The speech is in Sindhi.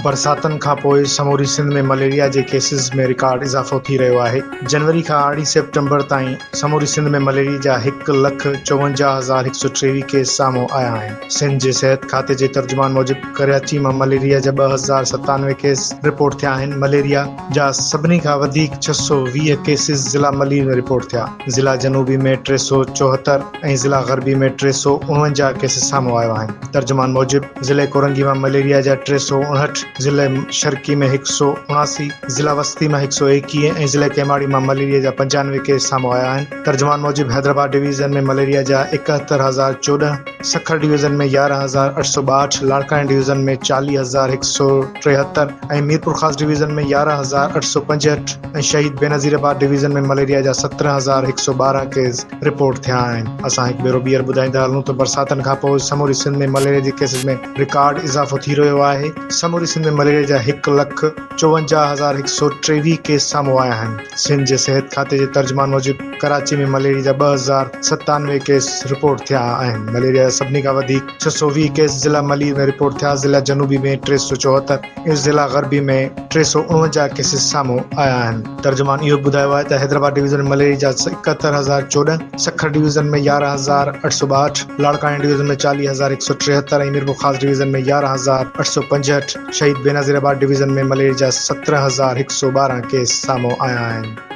برساتن کانپوء سموري سنڌ ۾ مليريا جي ڪيسز ۾ رڪارڊ اضافو ٿي رهيو آهي، جنوري کان ارڙهن سيپٽمبر تائين سموري سنڌ ۾ مليريا جا هڪ لک چوونجاهه هزار هڪ سؤ ٽيويهه ڪيس سامهون آيا آهن، سنڌ جي صحت کاتي جي ترجمان موجب ڪراچي مان مليريا جا ٻه هزار ستانوي ڪيس رپورٽ ٿيا آهن، مليريا. جا سڀني کان وڌيڪ ڇهه سؤ ويهه ڪيسز ضلع ملير ۾ رپورٽ ٿيا، ضلع جنوبي ۾ ٽي سؤ چوهتر ۽ ضلع غربي ۾ ٽي سؤ اڻونجاهه ڪيسز سامهون آيو آهن، ترجمان موجب ضلعي ڪورنگي مان مليريا جا ٽي سؤ اڻهٺ، ضلع شرقي ۾ هڪ سؤ اڻاسي، ضلع وسطي مان هڪ سؤ ايڪيهه ۽ ضلع ڪيماڙي مان مليريا جا پنجانوي ڪيس سامهون آيا آهن، ترجمان موجب حيدرآباد ڊويزن ۾ مليريا جا اڪهتر هزار چوڏهن، سکر ڊويزن ۾ يارهن هزار اٺ سؤ ٻاهٺ، لاڙڪاڻي ڊويزن ۾ چاليهه هزار هڪ سؤ ٽيهتر، ۽ ميرپورخاص ڊويزن ۾ يارهن هزار اٺ سؤ پنجهٺ ۽ Shaheed Benazirabad division ۾ malaria جا سترهن هزار هڪ سؤ ٻارهن ڪيس رپورٽ ٿيا آهن اسان هڪ ڀيرو ٻيهر ٻڌائيندا هلون ته برساتن کانپوء سموري سنڌ ۾ مليريا جي ڪيسز ۾ رڪارڊ اضافو ٿي رهيو آهي سموري سنڌ ۾ مليريا جا هڪ لک چوونجاهه هزار هڪ سؤ ٽيويهه ڪيس سامهون آيا آهن سنڌ جي صحت کاتي جي ترجمان موجب ڪراچي ۾ مليريا جا ٻه هزار ستانوي ڪيس رپورٽ ٿيا آهن مليريا جا سڀني کان وڌيڪ ڇهه سؤ ويهه ڪيس ضلع ملير ۾ رپورٽ ٿيا، ضلع جنوبي ۾ ٽي سؤ چوهتر ۽ ضلع غربي ۾ ٽي سؤ اڻونجاهه ڪيسز سامهون آيا آهن. ترجمان اهو به ٻڌايو آهي ته حيدرآباد ڊويزن ۾ مليريا جا اڪهتر هزار چوڏهن، سکر ڊويزن ۾ يارهن هزار اٺ سؤ ٻاهٺ، لاڙڪاڻي ڊويزن ۾ چاليهه هزار هڪ سؤ ٽيهتر ۽ ميرپورخاص ڊويزن ۾ يارهن هزار اٺ سؤ پنجهٺ، Shaheed Benazirabad division ۾ malaria جا سترهن هزار هڪ سؤ ٻارهن ڪيس سامهون آيا آهن.